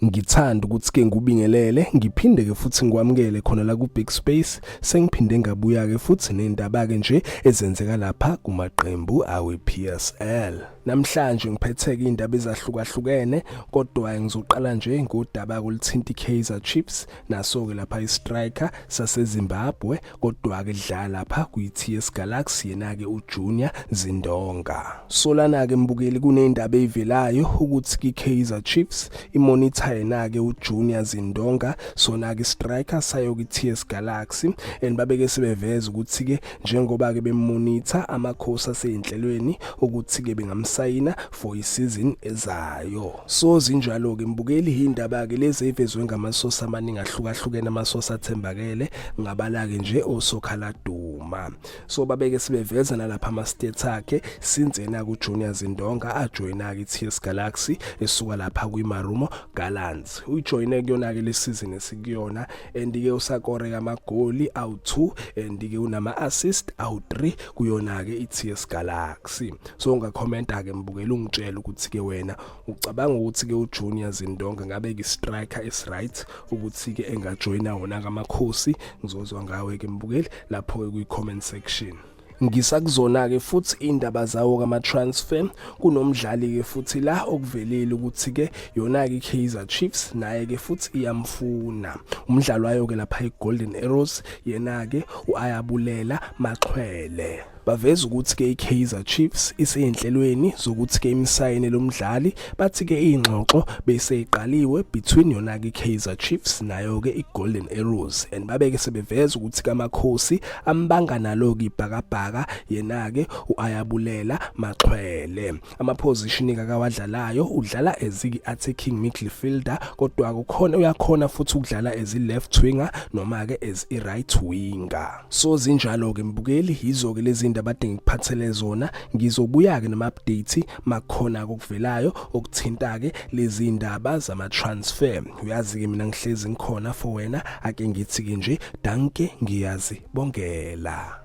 Ngithanda ukuthi ke ngubingelele ngiphinde ke futhi ngikwamukele khona la ku Big Space sengiphinde ngabuya ke futhi nendaba ke nje ezenzeka lapha kumaqembu awe PSL. Namhlanje ngiphetheke indaba ezahlukahlukene kodwa ngizoqala nje ngodaba kolithinta iKaizer Chiefs naso ke lapha istriker saseZimbabwe kodwa-ke dlala lapha kwi-TS Galaxy yena-ke uJunior Zindonga. Solana-ke mbukeli kuney'ndaba ey'velayo ukuthi ki-Kaizer Chiefs imonitha yena-ke uJunior Zindonga sona-ke striker sayo ki-TS Galaxy and babeke sebeveza ukuthi-ke njengoba-ke bemonitha amakhosi asey'nhlelweni ukuthi-ke bengamsayina for isizini ezayo so zinjalo ke mbukeli hindaba ke lezi evezwe ngamasosa amaningi ahlukahlukene amasosa athembakele ngabala ke nje osokhala duma so babeke sibeveza nalapha ama states akhe since yena ku Junior Zindonga ajoyina ke TS Galaxy esuka lapha kwi Marumo Gallants ujoyine kuyona ke lesizini esikuyona and ke usakore amagoli awu2 and ke unama assist awu3 kuyona ke iTS Galaxy so ungakhomenta ke mbukela ungitshela ukuthi ke wena ucabanga ukuthi ke uJunior Zindonga ngabe ke striker is right ukuthi ke engajoina wona kamakhosi ngizozwa ngawe ke mbukeli lapho ke kwi comment section ngisakuzona-ke futhi iy'ndaba zawo kama-transfer kunomdlali-ke futhi la okuvelile ukuthi-ke yona-ke i-kaizer chiefs naye-ke futhi iyamfuna umdlalo wayo-ke lapha i-golden arrows yena-ke u-ayabulela maxhwele baveza ukuthi-ke i-kaizer chiefs iseyinhlelweni zokuthi-ke imsayine lo mdlali Bathi ke ingxoxo beyiseyiqaliwe between yona ke Kaizer Chiefs nayo ke iGolden Arrows and babeke sebeveza ukuthi kaMakhosi ambanga nalo ke ibhakabhaka yena ke uAyabulela Maxhwele ama position akawadlalayo udlala eziki attacking midfielder kodwa kukhona uyakhona futhi ukudlala as left winger noma ke as i right winger so zinjalo ke mbukeli yizo ke lezi ndaba adinga kuphathele zona ngizobuya ke nama update makhona kokuvelayo okuthinta ke lezi ndaba zama transfer uyazi ke mina ngihlezi ngikhona for wena ake ngithi ke nje danke ngiyazi bongela